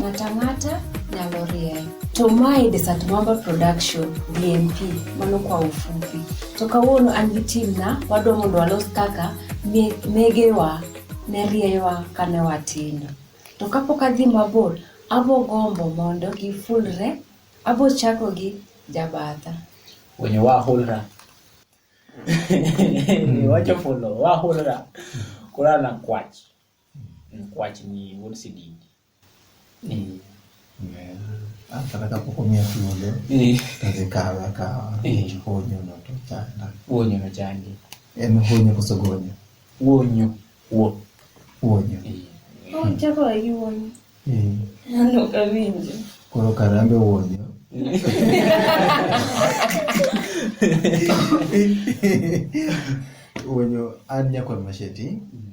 Matangata nyalo rieny. To mae Desert Mwamba Production DMP, mano kwa ufupi. To kawuono an gi team na wadwa mondo walos kaka me- megewa ne rieyowa kane watindo. To kapok adhi mabor, abo gombo mondo gifulre, abo chako gi jabatha. wenye wahulra wacho fulo wahulra kulala na kwach Mkwach ni wuod sididi. Eh. Ah, kata kapok omiya thuolo eh. tadhi kawe akawa eh. honyo no to chanda honyo no chandi en honyo koso gonyo honyo wo honyo chako gi honyo ano kawinjo koro karambe honyo honyo an nyakwar masheti mm.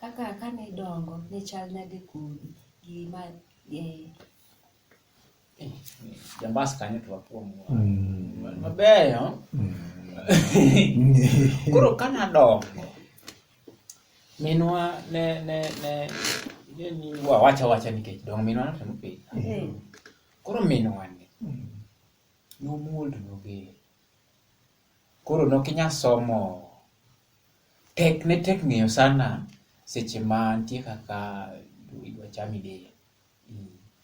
Kaka kane idongo ne chal nade kodi gi ma eh, jambas kanyo to wakuom mabeyo koro ka nadongo minwa ne ne ne ne ni wawacha wacha nikech dongo minwa notemo pith eh, koro minwa ni nomuol to noger Koro nokinya somo. Tek ne tek ng'eyo sana seche ma nitie kaka idwa chami del.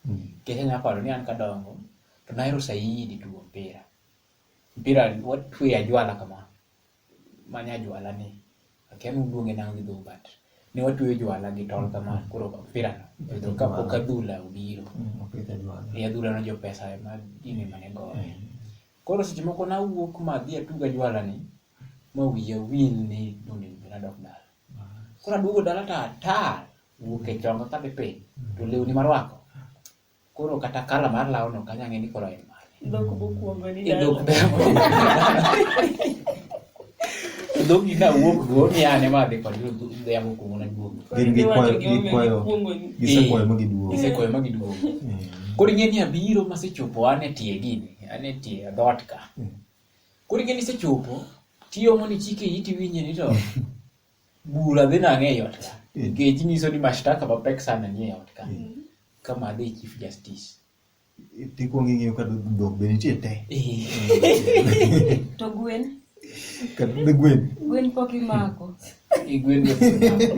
Nikech anyalo paro ni an kadongo to nahero saidi tugo mpira. Mpira watweyo ajwala kama, mani ajwala ni. Akia ni uluonge nang'o gi dholuo but ne watweyo jwala gi tol kama koro mpira no ka pok adhula obiro. Opidh ajwala. E adhula no jo pesa ema gini mane goyo. Koro seche moko nawuok ma adhi atug ajwala ni ma wiya wil ni doni be nadok dala. Koro aduogo dala to atar wuok e chonga ka dhi piny to lewni marwako. Koro kata kala mar law no kanya ng'e ni koro en mane. Dhok bokuongoni Idok dala. bemo. dhogi ka wuok go ni ane ma dhi kod yamo kuongo na duogo gin gi kwayo gi kwayo gisekwayo ma giduogo gisekwayo ma giduogo mm. koro ing'e ni abiro masechopo an e tie gini an e tie dhoot ka mm. koro ing'e ni isechopo tiyomo ni chike iti winje ni to bura dhi nang'e e ot ka mm. nikech nyiso ni mashtaka mapek sana ni e ot ka kama adhi chief justice Tikuongo ing'iyo ka dhok be nitie te. To gwen? Ka be gwen. Gwen pok imako. Gwen be pok imako.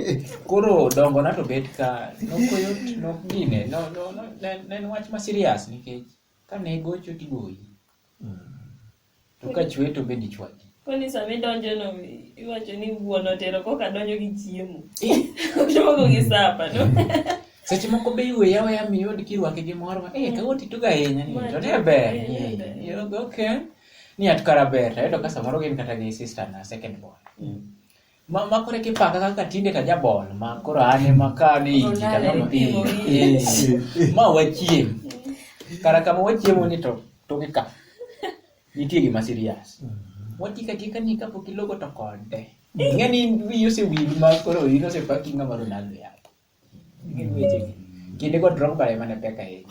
Koro dongo na to bet ka nokoyot nok gine. No, no, no, ne en wach ma serious nikech ka ne gocho tigoyi. To ka chwe to be dichwadi. Koni sama idonjo no iwacho ni wuon otero koka donjo gi chiemo. Ochopo gi sapa no. Seche moko be iwe yawe ya mi yod kirwake gi mor ma eh kawo titugo ahinya ni to ne ber. Okay. Ni atkara ber to ayudo ka samoro gin kata gi sister na second born. Mm. Ma ma kore kipaka kaka tinde ka jabol ma koro ane ma ka ne iki ka Olalo nono ipimo eh, eh, ma wachiem. Kara kama wachiemo ni to to gi ka. Nitie gima serious. Wati ka tika ni kapo kilogo to kode. Ngani wi ose wi ma koro wi ose paki ngama Ronaldo ya. Ngani weche. gi. Kinde go drop bare mana peka e.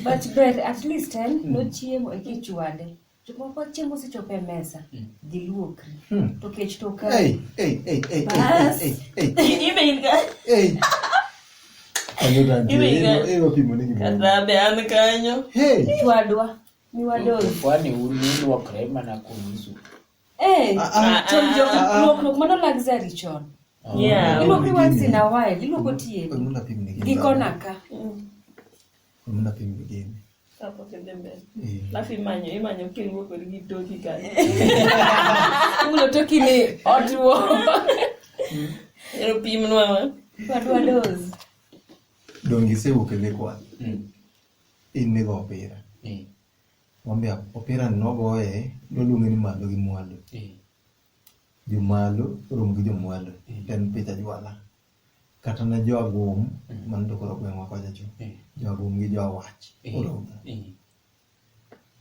But ber at least en nochiemo e kichwade. Jomoko chieng' mosechopo e mesa hmm. giluokri hmm. to kech to ka kadhabe an kanyo chwadwa miwadokwani ununuokre mana kunusu luokruok mano luxury chon iluokri once in a while iluoko tie gikona ka Mna piny migeni. Hapo kende mbele. Eh. Alafu imanyo, imanyo kiriwo kod gi toki kanyo. Ulo toki ni otuo. Ero pim nwa ma. Wadwa dozi. Dongi se wuok e lekwa. Mm. In nigo opira. Eh. Wambia opira nogoye, noluonge ni malo gi mwalo. Eh. Jomalo rom gi jomwalo. Eh. En picha jwala. kata ne jo agum man to koro gweng'wa kocha cho jo agum gi jo awach oromo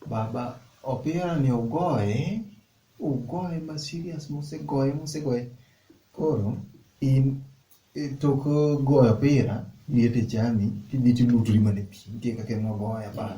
baba opira ni ogoye ogoye ma serious mosegoye mosegoye koro in e tok goyo opira liet e chami tidhi tilutri mana e pi nitie kaka ema ogoye abal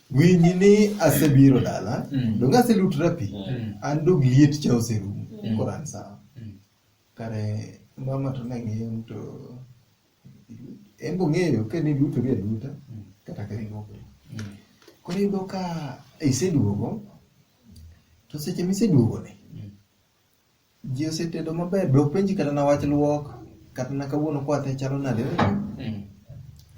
Winji ni asebiro dala, Mm. donge aselutra pi, Mm. an dog liet cha oserumo, Mm. koro an sawa. Mm. Kare mama to ne ng'iyo ni to en be ong'eyo ka ne luto gi aluta Mm. kata ka iluoko. Mm. Koro iyudo ka iseduogo, to seche miseduogoni, Ji osetedo maber, be openji kata na wach luok, kata na kawuono kwath ne chalo nade? Mm.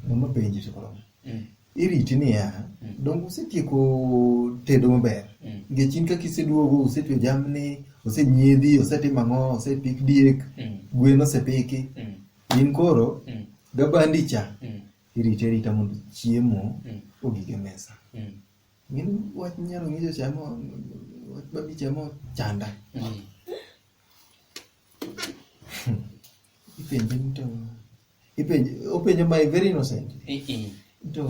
Mama penji to koro. Mm. Iriti niya, mm. donge usetieko tedo maber? Mm. Nikech in kaka iseduogo, usetwe jamni, osenyiedhi, osetim ang'o, osepik diek, mm. gwen osepiki. Mm. In koro, mm. gabandi cha, mm. iriti arita mondo chiemo mm. ogige mesa. Mm. Min wach nyalo nyiso chamo wach babi chamo chanda. Mm. Ipenje ni to ipenje openjo my very innocent. I i. To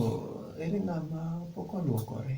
ere ng'ama pok oluokore?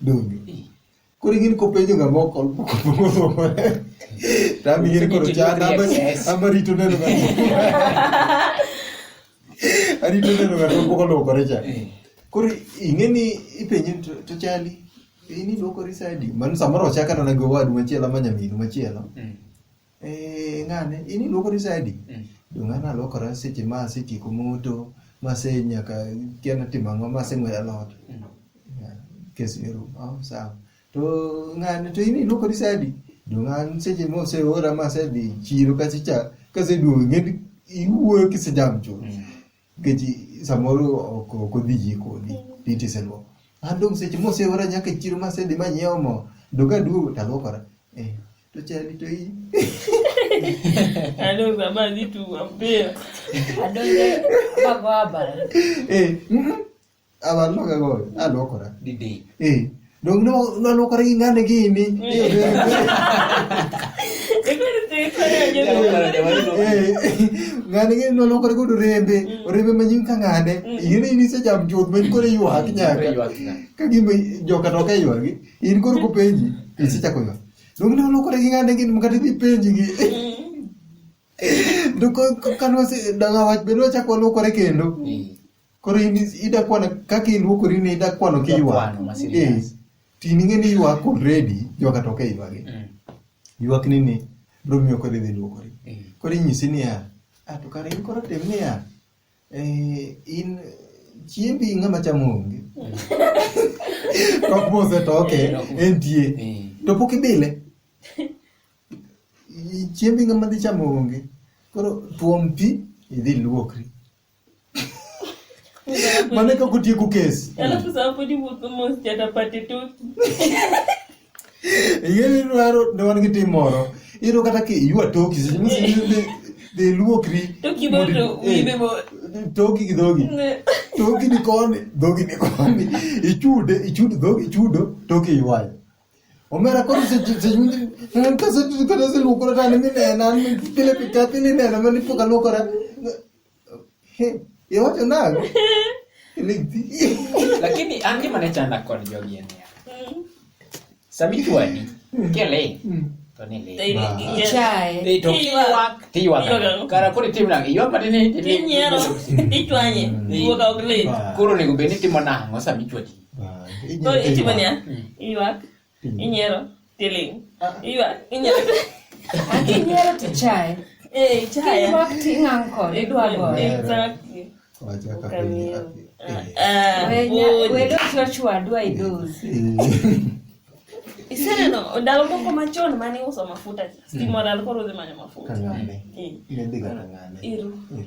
donge koro ing'eni kopenjo ng'ama ok olpokopokopore to an ing'eni koro chan ama rito neno ng'ato arito neno ng'ato pok olwokore cha koro ing'eni ipenje ni to- to chali in iluokori sadi mano samoro ochakana gi owadu machielo ama nyaminu machielo Eh, ng'ane in iluokori saidi Mm. donge an aluokora seche ma asetieko moto mase nyaka kia natimo ang'o maseng'wedo alot Mm. Yeah, kes ero oh, sawa to ng'ane to in iluokori saidi donge an seche ma oseora masedhi chiro kasecha kaseduogo ng'eni iwuoyo kisejam chuth Mm. Nikech samoro ok ok odhi yie kodi piti iseluoko. An dong' seche moseora nyaka e chiro masedhi manyiewo mo to ka aduogo to aluokora. Eh, to chadi to iyi. Ado sama dhi tugo mpira. Adonge bago abal. Eh, mm, abaloka goyo alokora didi eh dong no nalokora gi ngane gini ngane gini nalokora godo rembe mm. rembe manyim ka ngane mm. in in isecham chuth ma in koro ywak nyaka ka gima joka to ka ywagi in koro kopenji mm. isechako ywak dong nalokora gi ngane gini makata idhi penji gi dong kanwasi danga wach bende wachako walokore kendo Koro in ida kwano kaka iluokori ni ida kwano ki Ida kwano, ma ywak. serious. Eh, Ti ninge ni ywak already joka to ke ywagi. Mm. Ywak ni ni bro miyo kore dhi luokori. Eh. Koro inyisi niya, ah to kare in koro tem niya. Eh, in chiembi ng'ama chamo onge. Kok mose to oke Eh, ok- entie. Eh. To pok ibile. I- Chiembi ng'ama dhi chamo onge. Koro tuom pi idhi luokri. Mana ka kutie ku kes. Alafu sasa hapo ndipo kama sijatapata tu. Yeye ni waro ndo wangi timoro. Iro kata ki yua toki sisi ni de luokri. Toki boto wibe bo. Toki kidogi. Toki ni koni, dogi ni koni. Ichude, ichude dogi ichudo, toki yuai. Omera koro se se yundi kasa tu kasa luokora tani ni nena ni pile pikati ni nena mani poka luokora. Iwacho nang'? Lakini an gima ne chanda kod jogi en niya. Mm. Sami chwadi, mm. kele. Mm. To ni le. Ichaye. Ei to kiywak, tiywak. Kara koro itim nang', iywak matin ni. Inyiero, ichwanye, iwuok ok lit. Koro onego bed ni timo nang'o sami chwadi? Koro itimo niya, iywak. Inyiero tiling'. Iwa inyiero. Akinyiero to chae. Eh, chaya. Kimak tingang' kod idwa goyo. Exactly. Wacha ka piny Ukamio. api. Ah, Wenya, wood. wedo Joshua dwa idozi. Iseneno ndalo moko machon mane iuso mafuta stima olal koro udhi manyo mafuta. Kang'ane. Eh, Nedhiga kang'ane. Iru. Eh.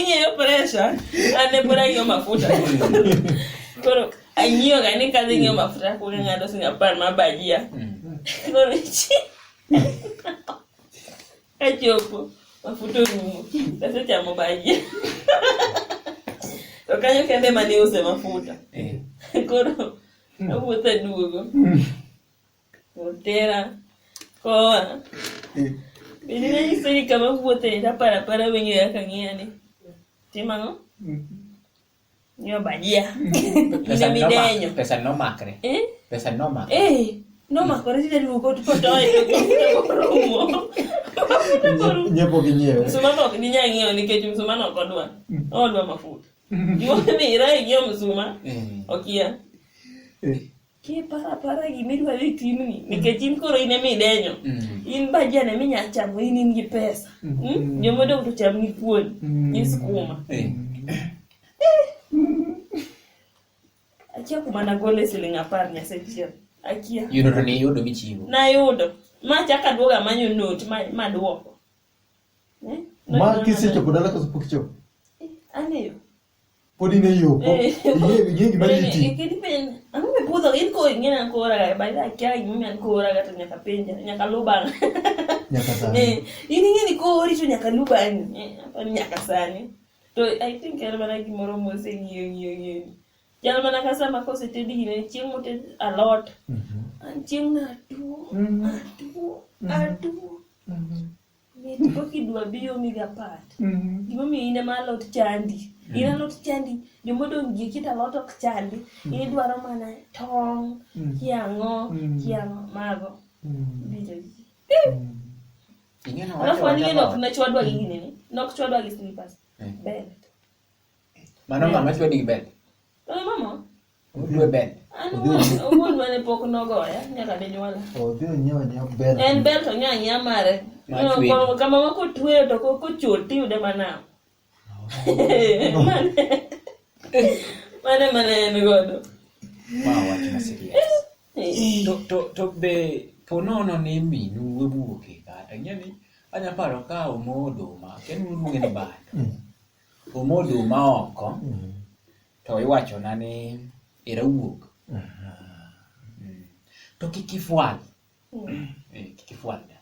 ing'eyo presha ane pod ang'iyo mafuta koro ang'iyo ga ni kadhi ng'iyo mafuta kuonge mm. mm. ng'ato sing apar ma bajia koro chi ẹ jẹ́ òpó mafuta ngumu sasa cha mabaji tokanyo kende mani use mafuta eh. koro awuotha duogo otera koa eh. bende nanyiso ni kama wuothe tapara para weng'eyo kaka ng'iyani timang'o mm-hmm. Nyo bajia. Pesa Ine noma- midenyo. pesa nomakre Eh? pesa nomak Eh, no ma kore tine duko to toy to rumo. nyiepo gi nyiewe Msumano ok ni nyang'iewo nikech msumano ok odwa. Odwa mafuta. Gimomiyo ira ing'iewo msuma Eh, okia. eh, kiparo apara gima idwaro e timni nikech in koro in ema idenyo mm. in bajan ema inyalo chamo in in gi pesa mm. hmm? joma odong' to cham ni kuon mm. gi skuma eh. Eh. akia kuma nagole siling' apar nyasechiel akia yudo to niyudo michiwo nayudo ma chaka duoga manyo not maduoko eh? ma kisechopo dala koso pok ichopo ang'eyo Podi ne yo. Iye gima liti. Ang'o me budho in ko ing'e na kora ga ba da kya gi men kora ga to nyaka penja nyaka luba. Nyaka sani. Eh, in ing'e ni kori to nyaka luba ni. Eh, nyaka sani. To I think er mana gimoro mose ng'iyo ng'iyo ng'iyo. Jal mana ka sama koseted gine chieng' moted alot. Mhm. Chieng' na tuo. Mhm. Atuo. Mhm. Atuo. Mit ko kidwa biyo mi ga pat. Mhm. Gima omiyo in ema alot chandi. In alot chandi. Joma odong' gi kit alot ok chandi. In idwaro mana tong', Mm. kiang'o, Mm. kiang'o mago. Mm. Biro ji. Mm. Ing'e na Alafu wacho aning'e nok wacho. nachwadwa gi gini ni. Nok chwadwa gi slippers. Mm. Belt. Mano ng'ama chwadi gi bel. Oye mama, Odhi obel. An wuon- wuon mane pok nogoya nyaka dinyuola Odhi onyiewo nyiewo bel. en bel to nya nya mare Ma No, tweyo. ko- kama ma kotweyo to ko- kochot tiyude manam mane mane en godo Ma wach ma serious. Eh, to, to, to be ponono ni minu wuoke kata ing'e ni anya paro ka omo oduma kendo uluonge ni bando omo oduma oko to iwachona ni era wuok Mm. to kik ifwal Eh, kik ifwal da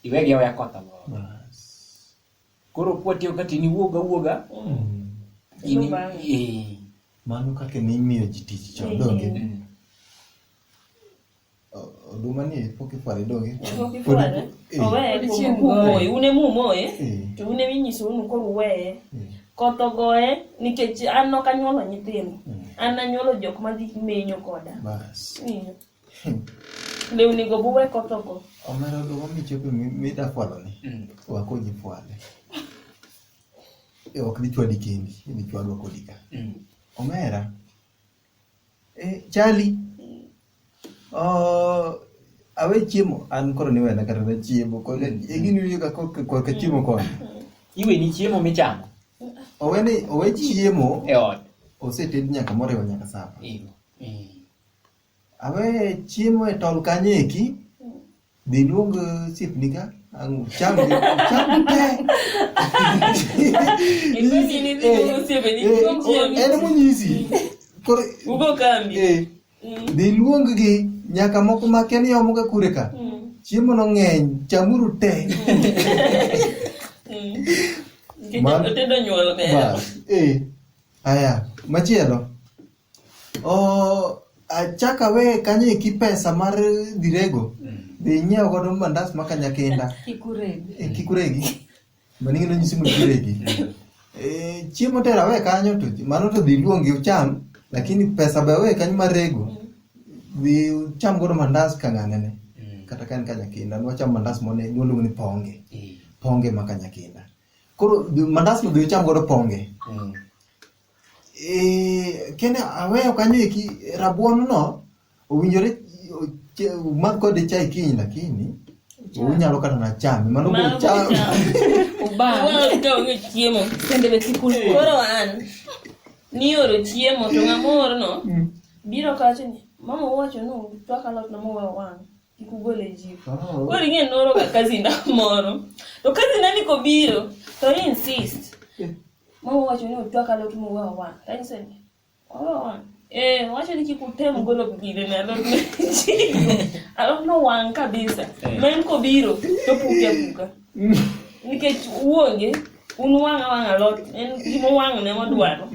iwegi aweya koth amoro koro kwatiyo ka tin iwuog awuoga in- Iluw bang'e. eh, mano kaka ne imiyo ji tich chon donge mm. Oduma ni pok ifware donge? Pok ifware. Eh. Oweye kuom kumoye. Un ema umoye. Eh. To un ema inyiso unu koro uweye. Eh. Koth ogoye nikech an nok anyuolo nyithindo. Hmm. An anyuolo jok madhi menyo koda. Bas. Lewni go buwe koth ogo. Omera oduma michope mida fwalo ni. Hmm. Wakonyi fwale. Ok dichwadi kendi, dichwadwa kodi ka. Hmm. Omera. Eh, chali oh, awe chiemo an koro niwena kata na chiemo koro egini wiyo ka kok- korka chiemo koni iwe ni chiemo michamo owe ni owe chiemo e ot oseted nyaka moriwo nyaka sapa Iyo. Mm. awe chiemo e tol kanyo eki Đi luôn 그 집니까? 아, chăm đi, chăm đi. Ilikuwa ni nini Eh, kwa Museveni? Eh, Ilikuwa njia oh, ene mtu. munyisi. Kore, Uko kambi. eh, Mm. dhi luonggi nyaka moko ma kia ni omoga kure ka. Mm. Chiemo no ng'eny, chamuru te. Mm. Kenya Man- otedo nyuol bera. Bas, eh. Aya, machielo. Oh, achak awe kanyo eki pesa mar dhirego dhi inyiew godo mandas ma kanyakenda Kikuregi. Eh, kik uregi mano ing'e nonyisi mondo uregi Eh, chiemo tero awe kanyo to mano to dhi luongi ucham lakini pesa be awe kanyo mar rego dhi ucham godo mandas ka ng'ang'ane kata ka en kanyakinda nwacham mandas mone nwaluongo ni ponge ponge ma kanyakinda koro dhi- mandas no dhi ucham godo ponge eh, kene aweyo kanyo eki rabuon no owinjore umadh kode chai kiny lakini unyalo kata na chame mano Mano biro cham biro cham. Ubang. Ubang ka onge chiemo. Sende be sikul. Koro an nioro chiemo to ng'amor no biro kacho ni mama owacho ni twak alot na mowe wang' kik ugol e jiko. Oh. Koro ing'e noro ga kazinda moro. To kazinda ni kobiro to i insist. Mwa wacho ni otwak alot muwe owang'. Kanyiso ni owe owang'. Eh, wacho ni kik utem golo gire ne alot ne chigo. Alot no wang' kabisa. Ma en kobiro to puke apuka. Nikech uonge un wang' awang' alot en gima wang' ne modwaro.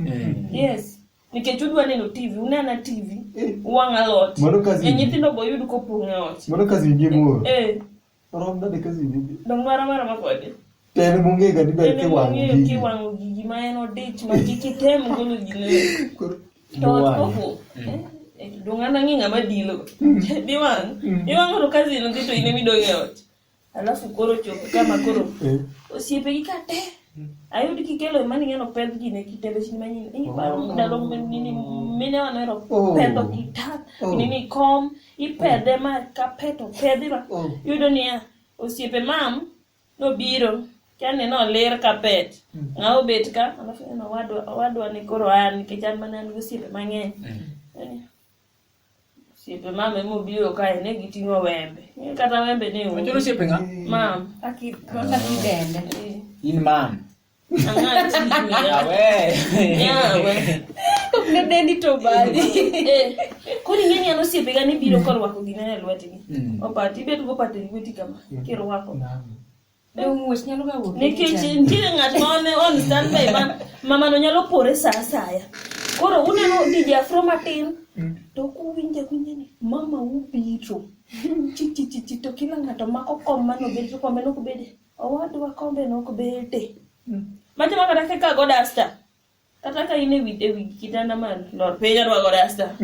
Yes. Nikech udwa neno TV, unena TV, uwang' alot. Mano kazi. E nyithindo boyud kopong' e ot. Mano kazi nyingine moro. Eh. Romna de kazi bibi. Dong mara mara ma kodi. Tene mungi ga dibe ke wangu. Tene mungi ke wangu gigi ma en odich ma kiki tem golo gine. To koko. Eh? Eh, dong ana ngi ngama dilo. Mm. Di wang. Mm. Di wang ro kazi no dito ine midonge ot. Alafu koro chopo kama koro. Eh. Osiepe gi kate. Ayudi kikelo mani ngeno pend ji ne kitendo chini manyi ni ba oh. ndalo nini mine wa nero oh. pendo kita oh. nini kom i pede ma ka peto pedi ba yudo niya osiepe mam no biro kani no ler ka pet hmm. nga obet ka alafu eno wadwa wadwa ni koro an kijan manan osiepe mang'eny hmm. Siepe mama ema obiro kae ne giting'o wembe. Ing'e Kata wembe ne Machoro onge. osiepe ng'a? Mam. Aki kaka kidende. eh, In mam. Ang'aa chini. Yawe. Yawe. Kok ne dendi to bali. Eh, Koro ing'e ni an osiepega ni biro korwako gine e lwetgi. Mm. Opati, ibet gopate e lweti kama, kirwako. Naam. nikech nitiere ng'at ma one on standby ma mamano nyalo pore sa asaya koro uneno dije afro matin to kuwinje winje ni mama ubiro chichichichi to kila ng'ato mako kom mane obed to kombe nok bede owadwa kombe nok bede machama kata kaka godasta Kata ka in e wi e wi kitanda malo. Lor piny arwako rasta.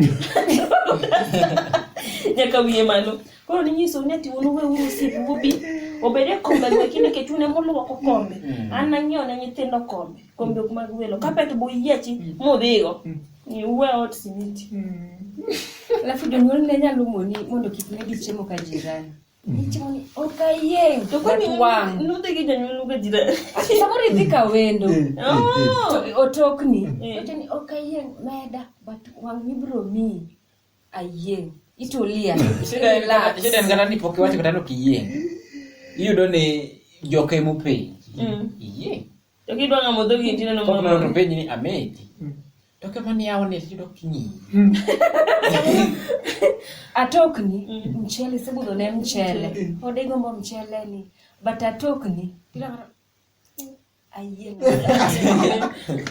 Nyaka wiye malo. Koro ninyiso ni ati un uwe uru osiepu ubi obede kombe go kinde nikech un emoluoko kombe. An nang'iewo ne nyithindo kombe. Kombe ok mag welo. Kapet bo yiechi modhigo. Ni uwe ot simiti. Alafu jonyuol ne nyalo moni mondo kik ne gichiemo ka jirani. samorithika wendo otokni ni okayieng meda but wang ibro miyi ayieng itulia shida en kata ni pok iwacho kata ni ok iyieng iyudo ni joke mopenji iyieng to kidwa ng'amo dhogi tineno mama to penji ni amedi Toke mani yao ni yudo kinyi. atokni mm. mchele sibudo ne mchele ode gombo mchele ni but atokni bila mara ayie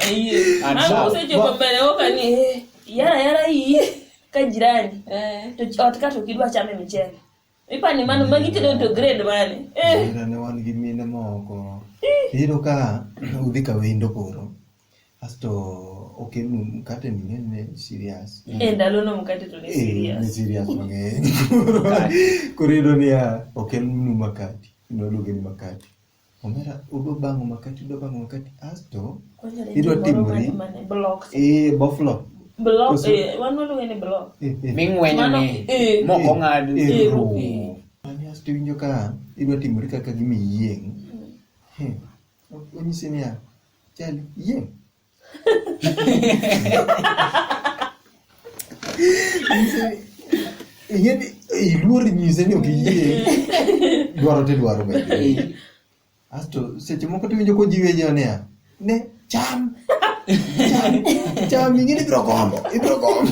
ayie ama usechopo mbele oka ni eh. yara yara hii ka jirani eh. to ot ka to kidwa chame mchele Ipani mano magi tedo to grade mane? Eh. Nera ne wan gi mine moko. Iyudo ka udhi ka wendo koro. Asto okenu mkate ni ng'eny ne serious. Eh, ndalono mkate to ne Eh, serious. ni serious mang'eny. Koro iyudo niya okelnu makati. Noluonge ni makati. Omera udo bango makati udo bango makati asto idwa timori eh boflo block eh wan waluonge ni block eh, eh. ming'wenyo ni eh, moko ng'ad asto iwinjo ka idwa timori kaka gima iyieng' hmm. onyisi niya chali yieng' Ingeni iluor nyise ni ok iyie. Dwaro te dwaro be. Asto seche moko tiwinjo kojiwe jo niya. Ne cham. Cham. Cham ingeni ibiro gombo. Ibiro gombo.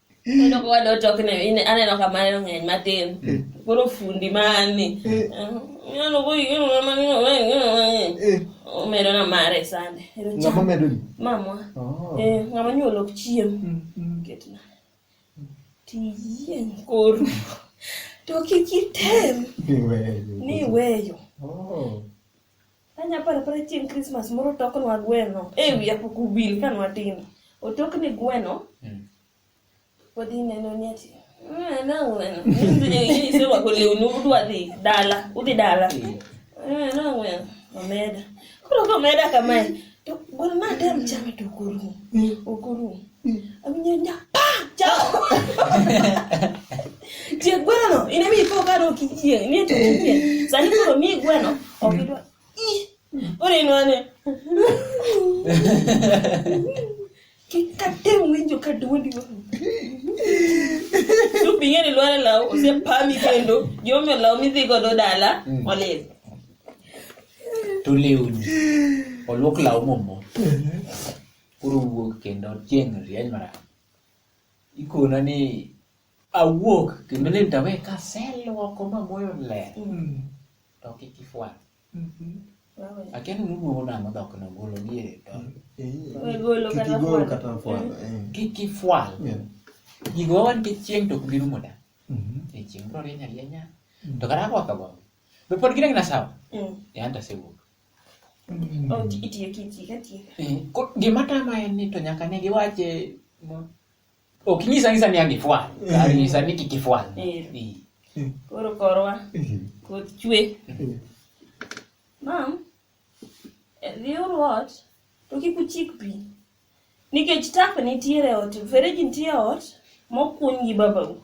Kendo kwa dot ok ne ine- aneno ka mano ng'eny matin. Koro fundi mani. Ng'ano ko yino ma ng'ino ma ng'ino ma ng'ino. Eh, Omedo na mare sande. Ero ng'ama chamo. medo ni Mamwa. Oh. Eh, ng'ama nyuol ok chiem. Mm, mm. Ketna. Tiyieng koru. To kik item Ni weyo. ni weyo. Oh. Anya paro paro chieng' Christmas moro otoknwa gweno e wi apoko ubil ka nwatindo. Otokni gweno. Mm. Podi neno ni ati. "Ah, na gweno. Ise wako lewni udwa dhi dala. Udhi dala. "Ah, na gweno. Omeda. Koro komeda kamae. To gweno ma tem chame to okorum. Okorum. Tie gweno no, ine mi po karo kichie, ni to kichie. Sani koro mi gweno, okidwa. Ore inwane. Kikate winjo ka duondi wa. Tu pinge ni lware law, ose pami kendo, jomi law mi dhi godo dala, mm. olil. Tu liuni. Olwok law momo. koro wuok kendo chieng' rieny marach. Ikona ni awuok kendo ni dawe kaseluoko ma moyo ler to kik ifwal. Akia ni nuduogo nang'o dhok no golo diere to Golo kata Kikigol fwalo. kata fwalo. eh. kik ifwal. Yeah. Gigo wan kik chieng' to ok bi rumo da. Mhm. E chieng' bro rieny arienya. To kata ako akago. Be pod gidang' na sawa? Mm. Yan to asewuok. Oh, ti- itiyo kitiyo katiyo. Eh, ko- gima tama en ni to nyaka ne giwache mo- ok nyisa nyisa ni agifwal kar nyisa ni kik ifwal Eh. Eh. Koro korwa koth chwe. Mam, eh, dhiuru ot to kik uchik pi. Nikech tap nitiere ot, fereji nitie ot mokuny gi babau.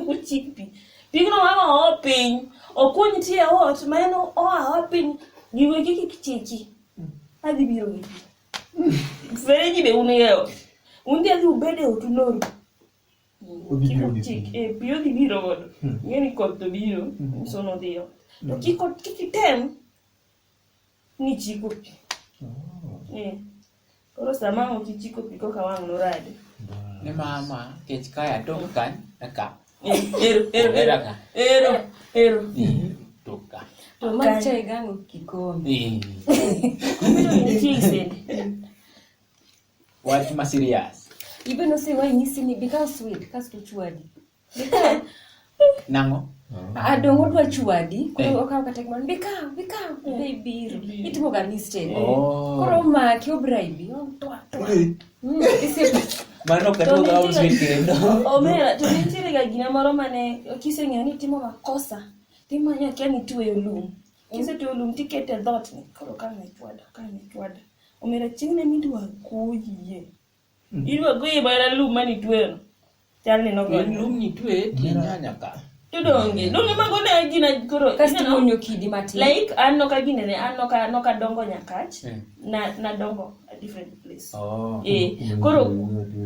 Uchik pi. Pigno mama oo piny, okuny nitie ot ma en oa oa piny giwe kiki kichiki. Adhi biro gi pi. Fereji be un e ot. Un dhi adhi ubed e ot uloru. Odhi Kik biro gi uchik, pi. eh, pi odhi biro godo. Ing'e ni koth to biro, sono dhiyo. To kik ot- kik item ni chiko pi oh. eh. koro sama ang' ok ichiko pi koka wang' noradi ni mama kech kae atok kan aka eh, ero ero ero ero ero eh, tok ka to ma chai gango kikombe wach ma serious ibe nosewayi nyisi ni bi kaw swit kasto chwadi Nang'o? adong odwa chwadi Eh. koro okawo kata gimoro be kaw be kaw be ibiro itimo ga mistake Oh. koro omaki obraibi otwa twa Mm, isiepe. Mano ok adwog house mate kendo. omera to nitiere ga gina moro mane kiseng'eyo ni timo makosa timanyo akia ni tueyo lum kisetueyo lum tikete e dhot ni koro kane chwada kane chwada omera chieng' ne midwa koyie Irwa gwi bara lum mani twero. Chal ni nogo. En lum ni twe ti nyanya ka. Tudonge. Lum ni mago ne gina koro. Kasto ineno? imonyo kidi matin. Like an noka gine ne an noka noka dongo nyakach. Eh. Na na dongo a different place. Oh. Eh, koro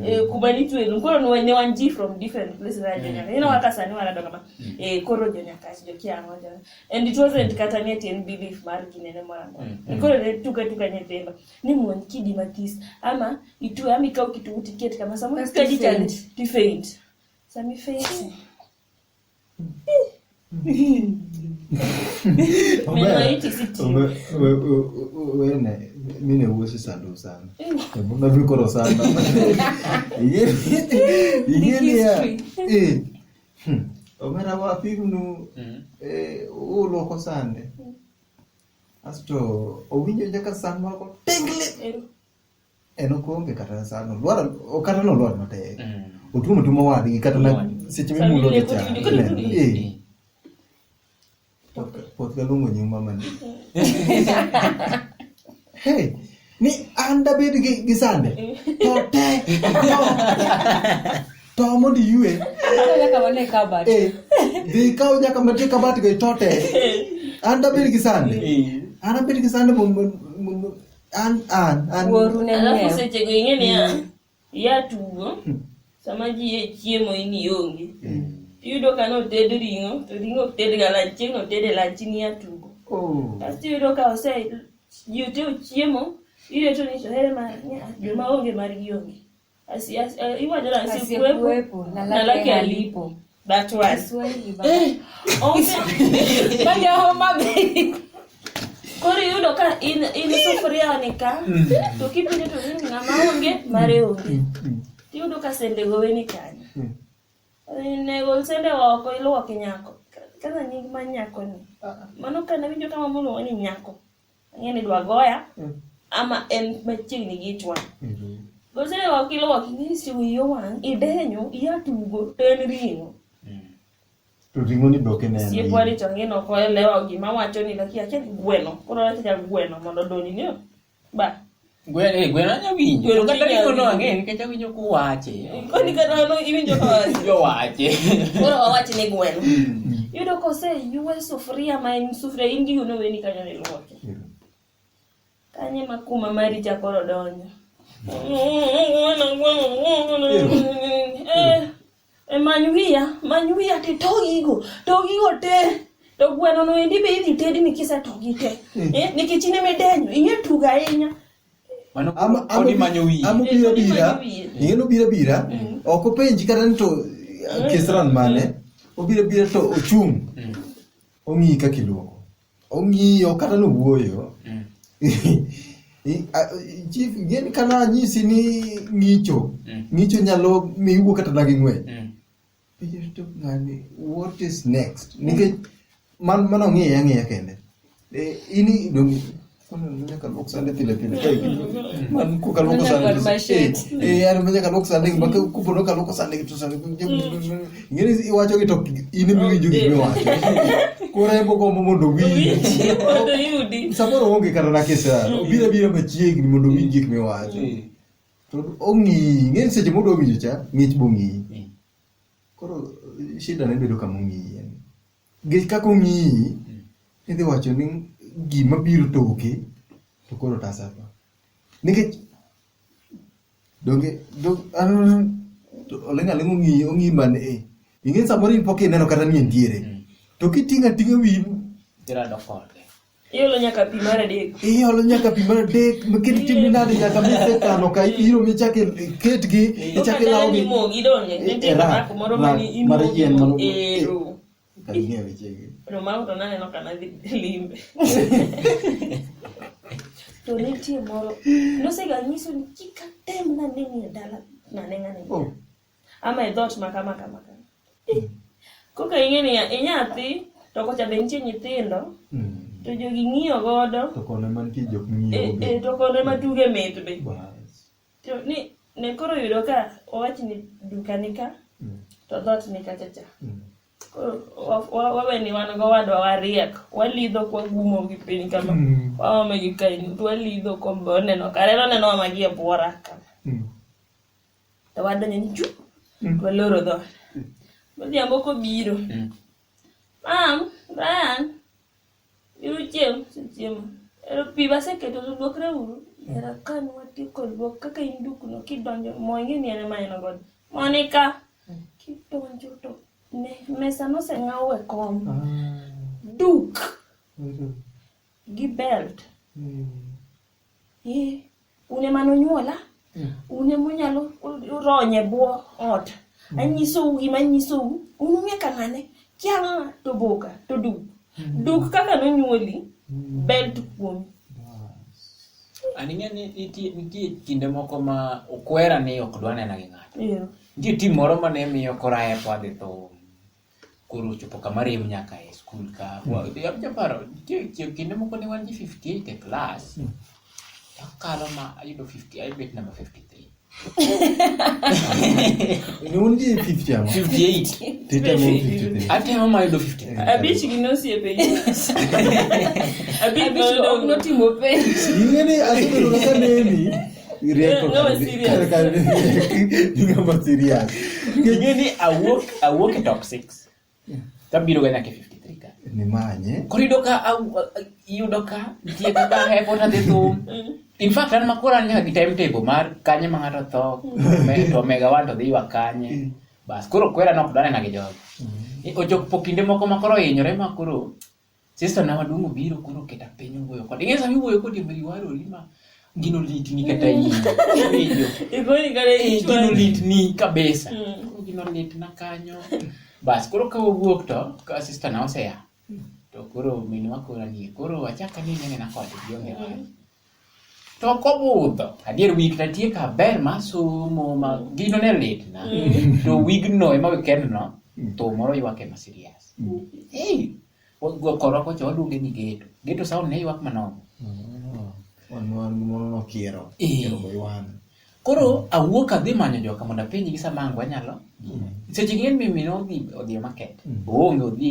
eh, kuma nitwe lum koro ne ne wan ji from different places mm. Jonyaka. You know kaka sani wana dongo ma. Mm. Eh, koro Jonyakach jo kiango jo. And it wasn't kata ni ati en belief mar gine ne mwana. Mm. Koro ne tuka tuka nyithindo. ni mon kidi mathis ama itu ama ikaw kitu tiket kama samu Kasto kadi cha faint. ti faint sami faint menaiti siti wene mine uosi sandu sana ebona vikoro sana ingenia omera wapignu uloko sande Asto owinjo nyaka san moro ko pingli. En okonge kata san olwar okata no olwar matek. Mm. Otumo tumo wadgi kata na seche mimulo gi cha. Eh. Pot galungo nyuma mani. Hey. ni an dabed gi, gi sande to te to, to mondo iyue Kaka wane kabat. eh, dhi kaw nyaka matie kabat go to te an dabed gi sande an abed gi sande mondo- mondo- an an an Wuoru ne Alafu ng'eyo. sechego ing'e niya, Iya tugo, hmm. sama ji e chiemo in ionge. Hmm. Iyudo ka noted ring'o, to ring'o ok ted ga lanch, chieng' noted e lanch in iya tugo. Oh. Kasto iyudo ka ose ji ote ochiemo, ireto ni to here ma joma onge margi onge. Asi, asi, iwacho na asi kuepo, na laki alipo. That one. Kiswahili baba. Eh, Okay. Bado homa bei. Koro iyudo ka in in sufuria onika to kipinyo to ni ng'ama onge mare onge. Iyudo ka sende gowe ni kanyo. Ne gol sende oko iluoke nyako. Kaza nying ma nyako ni. Mano kana winjo kama muluongo ni nyako. Ang'e ni dwa goya Mm. ama en machiegni gi ich wang'. Mhm. Gosewa kilowa king'isi wiyo wang', idenyo, iya tugo, to en ring'o. To ring'o ni be ok ineno. Siep wari to ang'e nok olewa gima wacho ni lakini akia ni gweno. Koro wacho ja gweno mondo odonjni. Ba. Gwen eh gwen anya winjo. Gwen kata ni ono ang'e nikech awinjo ku wache. Koni kata ono iwinjo ka wache. Jo wache. Koro wawache ni gwen. Hmm. Yudo kose yuwe sufuria ma en sufuria indi uno weni kanyo ni lwoke. Hmm. Kanye ma kuma mari cha koro donyo. Hmm. Eh. E many wiya, many wiya ti to gigo, to gigo te. To gweno no endi be idhi tedi ni kise to gi te. Hmm. Eh, nikech in eme denyo, ing'e tuga ahinya. Mano ama ama manyo wiye. Ama bira bira. Ing'e no bira bira. Hmm. Ok openji kata ni to eh, kisran mane. Hmm. Obira bira to ochung'. Ong'i kaka iluoko. Ong'iyo kata nowuoyo. Mm. Chief, gin kana nyisi ni ng'icho. Mm. Ng'icho nyalo mi iwuo kata na gi ng'wech. Mm. What is next? Nikech man mano ng'iye ang'iya kende. Eh, ini dong Mwenye kalok sande tile tile kai kitu. Man ku kalok sande. Eh yar mwenye kalok sande mbaka ku pono kalok sande kitu sande. Ngene i wacho ki tok ini mi winjo ki mi wacho. Kora ebo ko mo mondo winji. Mondo yudi. Samoro onge kata na kesa. Obira bira machiegni mondo winji ki mi wacho. To ongi ngene seche modo winjo cha ngich bongi. Koro shida ne bedo kama ongi. Nikech kaka ong'iyi, idhi wacho ni gima biro toke to koro otasa tho. Nikech donge oling' aling' ong'iyi ong'iyi mana e. Ing'eni samoro in pok ineno kata ni entiere. To kiting'o ating'a wiyi. Irado kode. Iolo nyaka pi mar adek. Iolo nyaka pi mar adek, maket timo nade nyaka mise kano ka iro michake ketgi, ichake lawo gi. Imogi donge, nitie Era, mako moro ra- mani mar imogi yien moro- ero. Kanie wechegi. No mago to naneno ka nadhi limbe. To nitie moro, nosega nyiso ni kik atem nanenie dala naneng'ane. Oh, ama e dhot ma kama kama kama Eh, koka ing'e ni inyathi to kocha be nitie nyithindo Mm. to jogi ng'iyo godo To kone mantie jok e, ng'iyo be. e, to kone ma tuge mit be Bas. to ni ne koro yudo ka owach ni duka ni ka Mm. to dhot ni kacha cha Mm. Koro wa- wa- wawe ni wan go wadwa wariek walidho kwa gumo gi piny kama Mm. waome gi kaini to walidho kombe oneno kare oneno wamagi e bwora kama Mm. to wadonjo ni chu mm. to waloro dhoot mm. odhiambo kobiro mm. mam brian biro chiemo chiemo ero pi baseketo to luokre uru era kan watieko luok kaka in dukno kidonjo mo ing'e ni en ema en godo monika kidonjo to ne mesa noseng'aw e kom ah. duk gi belt Ee, un ema nonyuola Yeah. un ema unyalo ronye bwo ot anyisou gima anyisou un ung'e ka ng'ane kia ng'a to boka to duk duk kaka nonyuoli belt kuomi An ing'e ni nitie nitie kinde moko ma okwera ni ok dwa nena gi ng'ato. Iyo. Nitie tim moro ma ne miyo koraya kwa dhi thum. koro ochopo kama rem nyaka e skul ka japaro nitie kinde moko ne wan ji 58 e klas hmm. takalo ma ayudo 50 ayudo namba 53 non di 50 ama 58 tete mo 53 ate ama mayudo 50 abich gi nosiepe abich noyudo notimo penj ing'eni asebedo kaka neni tabiro ga nyaka 53 ka nimanye koro yudo ka yudo ka nitie kaka hepo tadhi thum in fact an makoro an nyaka gi time table mar kanye ma ng'ato tho to omega wan to dhi ywa kanye mm. bas koro kwera nok danena gi jogo mm. ochok po kinde moko ma koro ohinyore ma koro Sister na waduong' obiro koro keta piny owuoyo kode. Ing'e sama iwuoyo kode mri warori ma gino litni kata in. Iwinjo. Igoni kare Eh, gino ichwani. litni kabisa. Mm. Koro gino litna kanyo. Bas koro ka wawuok to ka sister na oseya. To koro minwa koro anie. Koro achaka ni nene na kode gionge wach. to ok obudho adier wik na tie ka ber ma somo ma gino ne litna to wigno ema wikendno to moro ywak ema serious hey koro kocha waluonge ni geto geto sound ne ywak manono koro awuok adhi manyo joka mondo apenjgi sama ang wanyalo seche gi en mimino odhi odhi market oonge odhi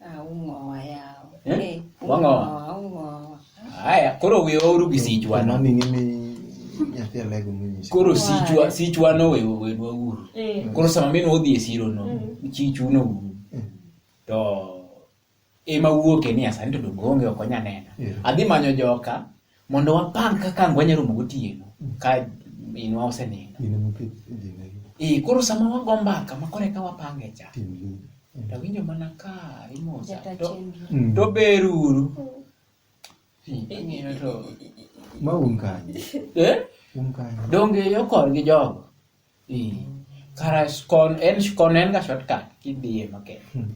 Ah, ung'owa yawa. Eh? Eh, Wang'owa. ung'owa, ung'owa. Haya, koro we oru gi sichwano. Mami ng'imi nyathi alego monyisi. Koro sichwa sichwano we we dwaguru. Eh. Koro sama min odhi e siro no, chichuno uru. To ema wuoke ni asani to dongo onge ok onya nena. Yeah. Adhi manyo joka Mondo wapang kaka ang' wanyalo romo gotieno ka minwa osenindo. Gine mopith e dinegi. Ee, koro sama wago mbaka ma koro eka wapange cha. Tim lu. To awinjo mana ka imosa. Jata To, chenro. Mm. to ber uru. Hmm, ang'iyo to. Ma un kanye? Eh? Un kanye? Donge yo korgi jogo? kara scon en scon en ga shortcut kidhiye maket hmm.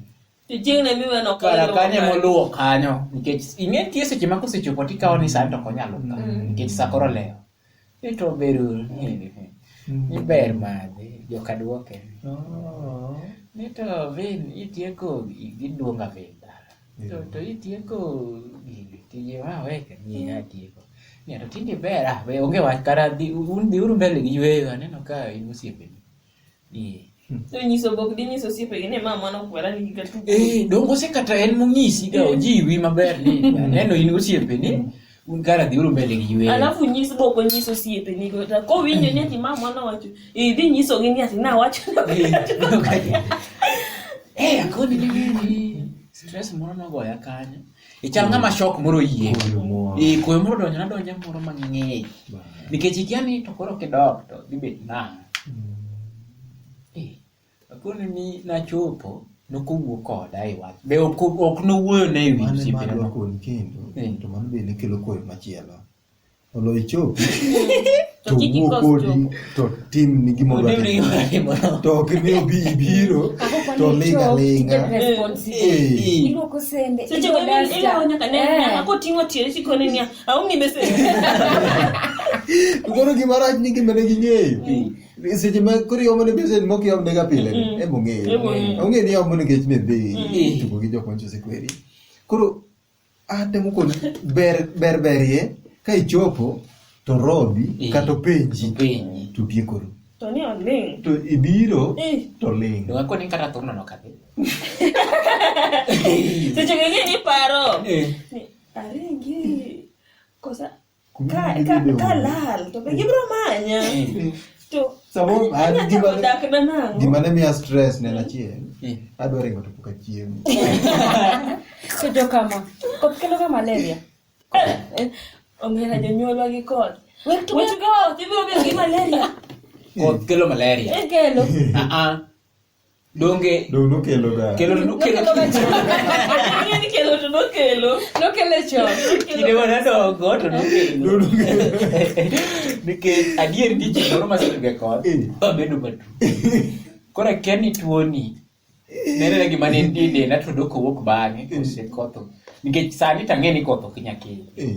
chieng' ne miwe no kara kanyo moluwo kanyo nikech ing'e tie seche ma kosechopo tikawo ni sani to konyalo ka hmm. nikech sakoro lewo ito bedo ni ber madhi joka duoke oh. nito vin itieko giduonga vin To to itieko gigi tije ma weka ni atieko. Ni to tinde ber ah be onge wach kata dhi un dhi uru mbele gi yweyo aneno ka in osiepe. Ni So nyiso bok di nyiso siepe gi ne ma mano kwera ni giga tu. Eh, dongo se kata en mong'isi da ojiwi maber ni aneno in osiepe ni Un kara dhi uru mbele gi yweyo. Alafu nyis boko nyiso siepe ni go ta ko winjo ni ati mama na wacho i dhi nyiso gi ni ati na wacho Eh, akoni ni gini. Stress moro nogoya kanyo. Ichal ng'ama shock moro yie. Koyo moro. Eh, koyo moro donjo nadonjo moro mang'eny. Nikech ikia ni to koro kidok to dhi bet nang'o. Akono ni nachopo nokowuo koda e wach. Be ok ok nowuoyo ne ewi Mane osiepena. madwa koni kendo Mm. to mano bende kelo koyo machielo. Olo ichopi to To kik wuo ikos kodi chopo. to tim ni gima odwa Onewni timo. gima timo. To ok ni obi ibiro to linga linga. Eh. Iluoko sende. Seche iluoko go duster. ilawo nyaka ne Eh. nyaka koting'o tiende tikone niya, aumi besen. Koro gima rach ni gima ne ging'eyo. seche ma koro iomo ne message mok iom nega pile ni Mm. em ong'eyo Em ong'eyo. ong'eyo ni iomo nikech ne dhi Mm. tugo gi jokma chose kweri koro atemo kod ber ber berie ka ichopo to robi Mm. kata openji Penyi. to tiekoro To ni oling'. to ibiro Eh. to ling Yo ako ni kata thurno no kadhi. Seche gigi ni paro. Eh. Ni aringi. Kosa Kumi Ka, gi ka, dideo. ka lal to be gibiro manya. Eh, To Samoro ah, anya gima chako ne- dak na nang'o? gima ne miya stress ne en achiel eh. adwa ringo to pok achiemo To jo kama. Koth kelo ga malaria. Eh, Omera jonyuolwa gi kod. Wek to Wet go, ibiro bedo gi malaria. koth kelo malaria Ekelo. Ah, ah. donge donge nokelo ga kelo nokelo Ang'eyo ni kelo to nokelo. nokele chon kinde ma nadongo to nokelo nikech adier ni ji moro masetuge koth Eh. babedo matu koro akia ni tuoni nenena gima ne nitie e denda to dok owuok bang'e kosekotho nikech sani tang'e ni koth ok nyakelo Eh,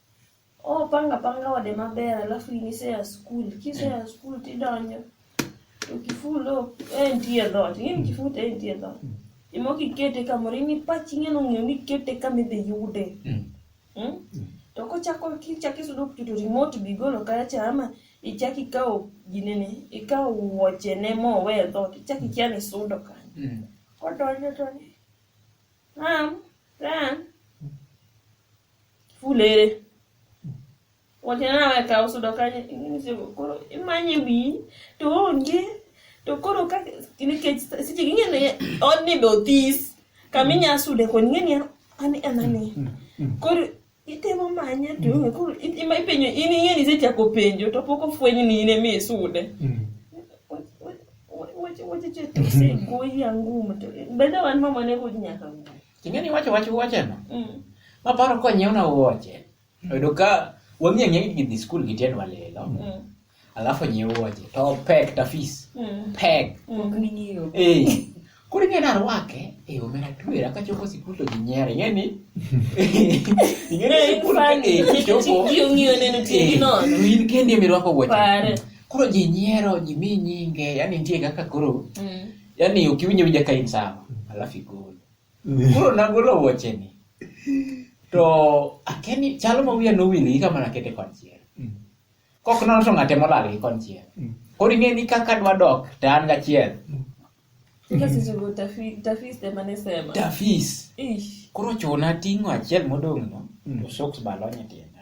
Oh, panga panga ode maber alafu inise ya skul kise ya skul tidonjo to kifulo e nitie dhot ing'e ni kifute e nitie dhot imok ikete kamoro in ipach ing'eno ng'eyo ni ikete kama idhi yude Mm. Mm? to kochako kichako isudo kucho to remote be igolo kaya cha ama ichako ikawo ginene ikawo wuochene mowe e dhot ichako ikia ni isudo kanyo Mm. kodonjo to ni ram ran fulere wacho ni nawe kaw sudo kanyo inyisigo koro imanye wiyi to onge to koro ka nikech seche ging'e ni odni be othis kama inya sude koni ing'e ni an en ang'e koro itemo manye to onge koro i- ima ipenjo in ing'e ni isechako penjo to pok ofweny ni in ema isude wacho wacho to osegoyi angum to bende wan mama ne kod nyaka ng'u Ting'e ni wacho wach wuocheno. Mm. Maparo ka nyiewna wuoche. Oyudo ka wang'e ang'e ni gidhi skul gi tiendwa lilo. Mm. Alafu nyiew wuoche. To pek ta fees. Mm. Pek. Ok ning'eyo. Eh. Koro ing'e narwake. Eh, omera twera kachopo sikul to ginyiera. Ing'e ni. Ing'e ni Eh, sikul ka funny. eh, kichopo. Ji ong'iyo neno Eh, tiendi nono. to in kendi mirwako wuoche. Pare. Koro ji nyiero, ji mi nyinge. Yaani nitie kaka koro Mm. yani ukiwinjo winja ka in sawa alafu igol koro nagolo wuocheni to akeni chalo ma wiya nowil gi kama nakete konchiel kok nono to ng'ate molal gi konchiel koro ing'e ni kaka dwa dok to an gachiel tafis koro chuna ting'o achiel modong'no to soks balonye tienda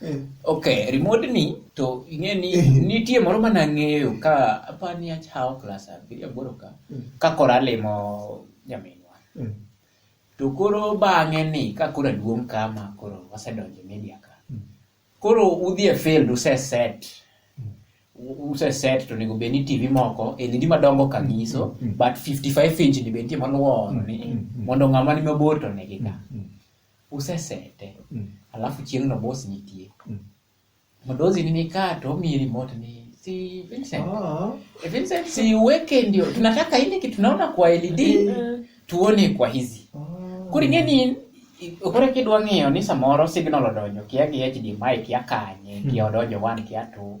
Eh. ok remote ni to ing'e ni eh. nitie moro mana ang'eyo ka apa ni achawo klas abiriyo aboro ka eh. ka koro alimo nyaminwa to koro bang'e ni ka koro aduong' kama koro wasedonjo media ka hmm. koro udhi e field useset useset to onego bed ni tv moko e lidi madongo ka nyiso mm, mm. but 55 inch ni be nitie moluwo mm, ni mondo ng'ama ni mabor to negi ka usesete mm. alafu chieng' no boss nitie mm. madozi ni nikaa to omiyi remote ni si Vincent oh. Eh, Vincent si uweke ndio tunataka ile kitu tunaona kwa LED mm. tuone kwa hizi oh. kuri ngeni kore kidwa ng'iyo ni samoro signal odonjo kia gi HDMI kia kanye mm. kia odonjo one kia two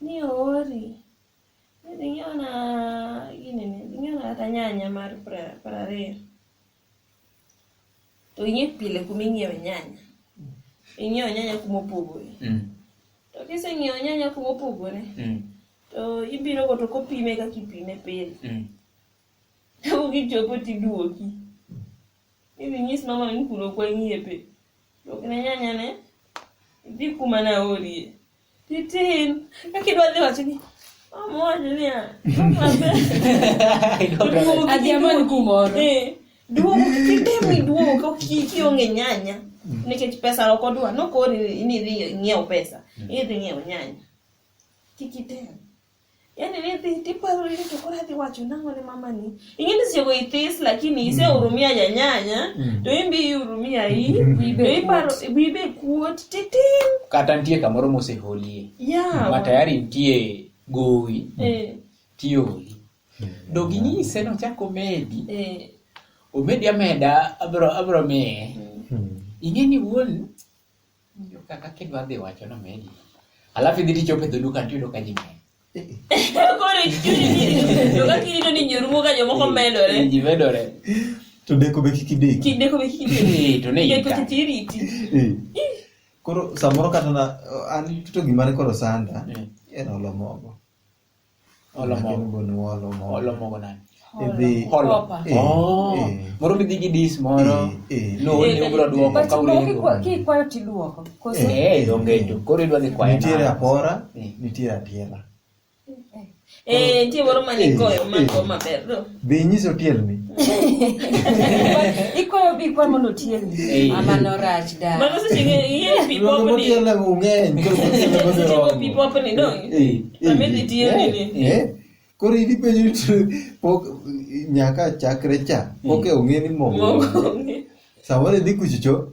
ni oori ni dhi ng'iewna ginene dhi ng'iewna kata nyanya mar piero ariyo to ing'e pile kuma ing'iewe nyanya ing'iewo nyanya kuma opogore mm. to kiseng'iewo nyanya kuma opogore mm. to ibiro go to kopime kaka ipime pile mm. to kichopo tiduoki Idhi nyis mama ni kuno kwa ng'iepe. Dok ne nyanya ne idhi kuma na orie. Titin. Kaka idwa dhi wacho ni mama wacho niya. Adhi amany kumoro. Eh, Duogo kitem ni duogo ka ki- kionge nyanya. Nikech pesa ok odwa. Nokori ni idhi ng'iew pesa. Idhi ng'iew nyanya. Kik item. Yaani nithi tipo rili tukora thi wacho nango ni mama ni. Ingine sio go itis lakini ise mm. urumia ya nyanya. Mm. To imbi urumia hii. Bibe iparo bibe kuot titim. Kata ntie kamoro mose holie. Yeah. Ma tayari ntie gowi. Eh. Tio holi. Mm. Do gini ise no chako medi. Eh. Omedi ameda abro abro me. Mm. Ingine wuon Kaka kidwa dhi wacho na medi. Alafu idhi tichope dho duka tiyudo ka ji ng'eny. Koro to ka kirito ni nyorumo ka jomoko medore. Ji medore. To deko be kiki deki. Kik deko be kiki deki. To ne ita. Deko tiriti. Koro samoro kata na an to gimane koro sanda. Era olomogo. Olo Magi mogo. luongo ni olo mogo. Olo mogo nani? Idhi Holo. Kopa. Eh, Oh, eh. moro midhi gi dis moro. Eh, eh. No, Eh, ni ubro duoko but ka no, ulengo. kikwa- kikwayo tiduoko koso Eh, eh, donge tu. Koro idwa dhi kwayo. nitiere nang'o? apora Eh. nitiere atiela Eh, nitie moro mane goyo ma go maber. Be inyise otielni? Ikwayo bi kwa mondo otielni. Mama no rach da. Mano seche ng'e ing'e pi Rogo popni. motielna go ng'eny. koro motielna go Seche go pi oromo. popni no. Eh, eh, Mami dhi tielni ni. eh, eh. Koro in ipenjo ni to- pok nyaka chakre cha pok e ong'e ni mogo. Mogo. Samoro idhi kuchocho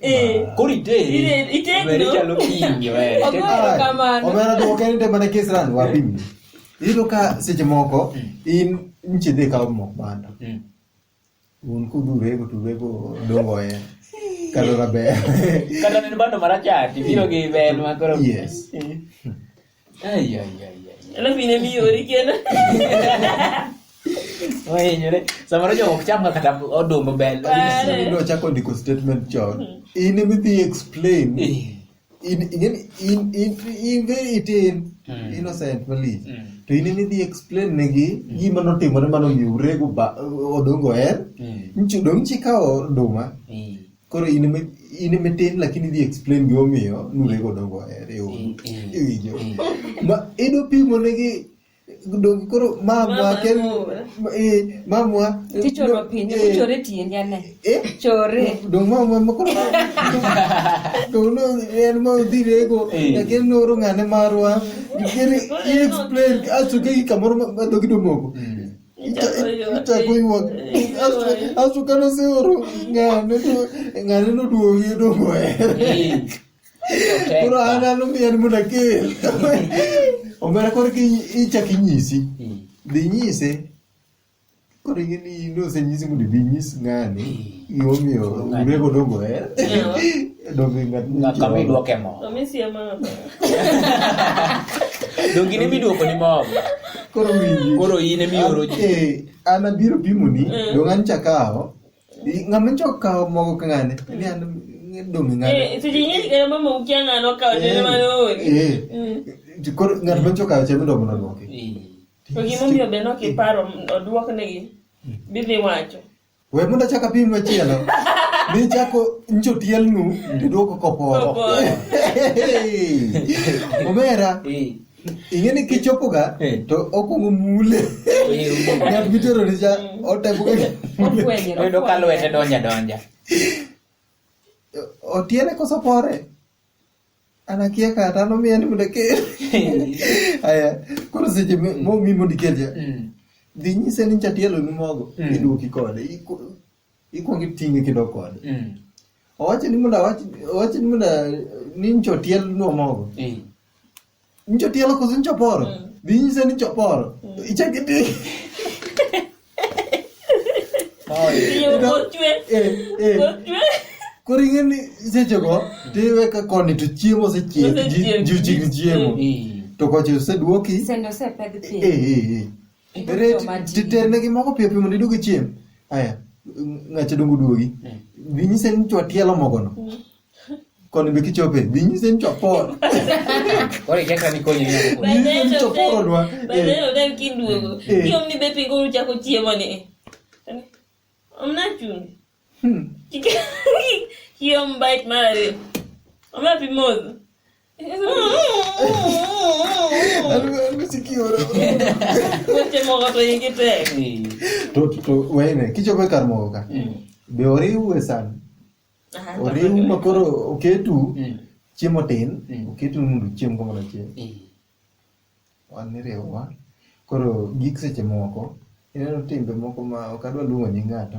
Eh. Kori te. Ire itendo. Weri chalo kingi weri. Ogoyo kamano. Omera to okeni te mana kes ran wapi. Mm. Iyudo ka seche moko mm. in nchi dhi kawo mok banda. Mm. Un kudure go tuwe go dongo e. Kalo raber. Kalo neno bando marachati biro gi bel makoro. Yes. Eh. Alafu inemi ori kena. Oye, nyore. Samoro jo ok cham kata odumbo bel. Ndio chako ndiko statement chon. Hmm. In emi dhi explain. Eh. In in in in in very itin hmm. innocent mali. Hmm. To in emi dhi explain negi gima notimore mano mi urego odongo en. Nchi dong chikawo duma. koro in ime in ime tin lakini idhi explain gima omiyo nurego dongo ahere o Mm, mm. iwinjo Mm. ma ido pimo negi dongi koro mamwa Mama kel mor. ma- eh, mamwa eh, Tichoro do- piny, eh, tichore tiendi ane. eh, Chore. dong mamwa ma koro dong no en ma udhi rego Eh. lakini noro ng'ane marwa Kere, i explain aso kegi kamoro ma- ma dhogi domoko Mm. Chako ywak. Asu kano seoro ng'ane to ng'ane noduogi odong' oher. Koro an an omiyan mondo akel. Omera koro ki ichak inyisi. Dhi nyise. Koro ing'e ni nosenyisi mondo ibi inyis ng'ani. Gimomiyo urego dongo eh? Donge ng'at Ng'aka mi dwoke mo. To mi sie ma maber. Donge ne midwoko ni mob. Koro winji. Koro in emi oro ji. Eh, an abiro pimoni Mm. dong an chakawo I- ng'ama ncho kawo mogo ka ng'ane ni an dong ng'ane Eh, seche nyinyi kaya mama ukia ng'ano kawo nene mane oori. Eh. Mm. To koro ng'at mancho kawo chame dogo nodwoke To gimomiyo be nokiparo odwoknegi bidhi wacho. We mundo chaka pim machielo. Ni chako njo tielnu to duoko koporo. Omera. Ing'e ni kichopoga to okwongo mule. Ng'at mitero ni cha otemoga. Oyudo ka lwete donja donja. Otiele koso pore. anakia kata no me animo dake aya koro seche mo mi mondi keje mm. dhi nyise ni chatielo ni mogo mm. iduoki kode ikwongi tingi kido kode mm. owacho ni mondo owacho ni mondo ni nchotiel no mogo Njo tielo koso njo poro? Mm. Bi nyise ni njo poro. Mm. Ichak iti. Iyo kochwe. Eh, eh. Kochwe. Koro ing'e ni sechego tiwe ka koni to chiemo osechiek ji ochik chiemo. To kocha oseduoki. Sendo osepedh pi. Eh, eh, eh. Titernegi moko piyo piyo mondo idog ichiem. Aya, ng'acha dongo duogi. Bi nyise ni chwa tielo mogono. Mm. Koni be kichope, be nyise ni choporo. Kore kaka ni konyo nyako kore. Be nyise ni choporo dwa. Be ne oda kiduogo. Kiom ni be pingo uchako chiemo ni. Omna chumbi. Kiom bite mare. Omna pi modho. Weche moko to igi tek. To to wene kichope kar mogo ka. Be oriwu e san. Aha, oriwu tafadhali. ma koro oketu Mm. chiemo tin Mm. oketu ni mondo uchiem kamoro achiel Eh, wan niriwowa koro gik seche moko ineno timbe moko ma ok adwa luongo nying ng'ato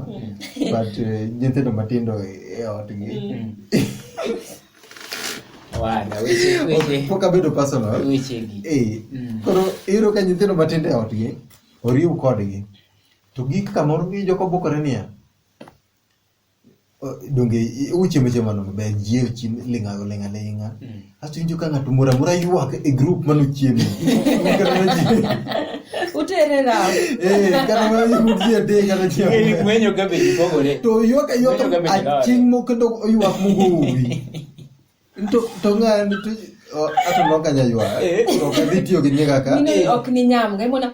but eh, nyithindo matindo e e otgi mm. Wada, weche- weche- pok abedo personal wechegi. Eh, Mm. koro iyudo ka nyithindo matindo e otgi oriw kodgi to gik kamoro gijoko bokore niya donge uchiemo chiemo no maber ji ochiem ling'a ling'a ling'a asto injo ka ng'ato mora mora ywak e group mano chiemo utere rawo eh kana mano ji ade kana chiemo Ng'eyo gwenyo ka be gipogore. to ywak ywak Winjo ka be gilore. aching mo kendo ywak mo gowi to to ng'ani to ato no kanya ywak Eh. to kadhi tiyo gi nyega ka Mine ok ni nyam ga imona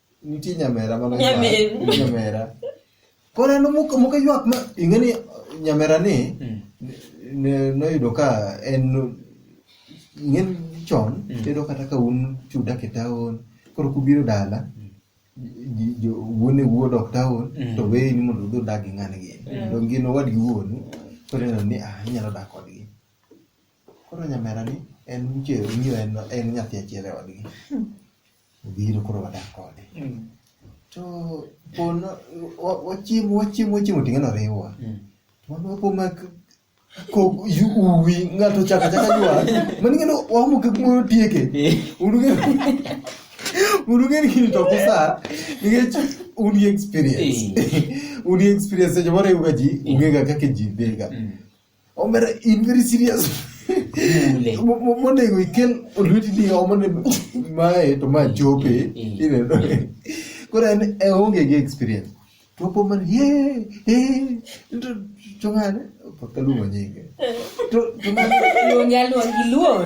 Nitie nyamera mano Nyamin. ywak. Nyamera. Koro en muka muka ywak ma ing'eni nyamera ni Mm. ne- noyudo ka en ing'en chon Mm. tedo kata ka un chuda ke taon koro kubiro dala ji- jo wuon e wuod ok taon Mm. to weyi ni mondo udhi udag gi ng'ani gini Mm. to gin owadgi wuonu koro ineno ni ah inyalo dak kodgi koro nyamera ni en che ong'iyo en en nyathi achiel e odgi obiro koro wadak kode Mm. to pono wa- wachiemo wachiemo wachiemo ting'e noriwa Mm. wapo mak ko yu uwi ng'ato chaka chaka jwa mani ng'ano wamu ke kumoro tieke unuge unuge ni kini to kusa nikech uni experience uni experience seche moro yuga ji ungega kaka ji dhega Mm. Omera in very serious. Mule. Mo- mo- Monego ikel olweti ni omo ne mae to ma chope. Eh, Ineno. Koro en e onge gi experience. To opo man ye ye to to ng'ane pakaluongo nyinge. To to ng'ane Luongi aluongi luor.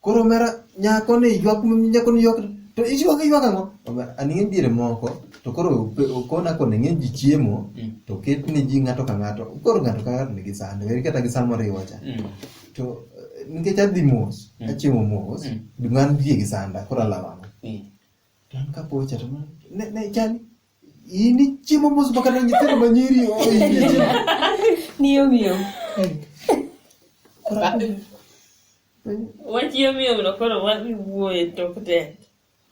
Koro omera nyako ni ywak nyako ni ywak to iywak iywak ang'o? Omera an ng'e diere moko to koro ope- okona koni ng'e ji chiemo Mm. to ket ni ji ng'ato ka ng'ato koro ng'ato ka ng'ato nigi sande weri kata gi san moriwo cha Mm. to eh, nikech adhi mos Mm. achiemo mos Mm. gima nitie gi sanda koro alawo ang'o? Mm. An kapo wacha to ne ne chani. In ichiemo mos baka na nyithindo ma nyiri o ichiemo. Niyo miyo. Wachiyo miyo no koro wadhi wuoye tok te.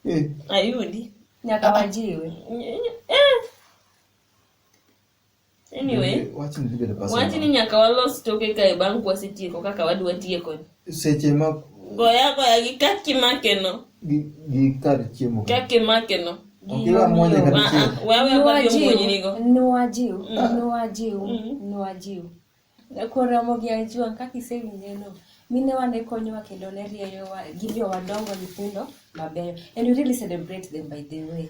Eh. Ayudi. Nyaka wajiwe. Eh. Anyway, wachni dhi bedo pesa wachni mang'eny. nyaka walos toke kae bang' kwasetieko kaka wadwa tieko. seche ma Goya goya gi kaki makeno, gi gi kar chiemo ka. kaki makeno. Ok iwa mwanya kata Ah, chiemo. ah, Wewe kwa hiyo mwenye niko. Nuwajiw, nuwajiw, nuwajiw, Mm. nuwajiw. Koramo gi anjua kaka isewinjeno. Minewa ne konyowa kendo ne rieyowa gi jomadongo nyithindo mabeyo. And we really celebrate them by the way.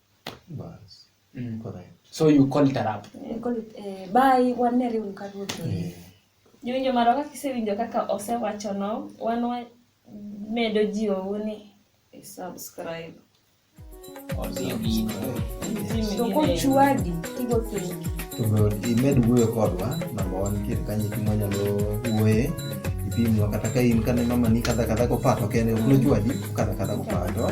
Bas. Mm. Correct. So you call it a rap. Eh, call it, eh, bye, wan ne riw ka ruoth. Eh. Jowinjo maro kaka isewinjo kaka osewacho no, wan wa medo jiwo ni eh, subscribe. To kochwadi tigo pengi. To be imed wuoyo kodwa, namba wan kir kanyo kuma nyalo wuoye. Ipimwa kata ka in kane mama ni kadha kadha kopato kende, ok nochwadi kadha kadha kopato.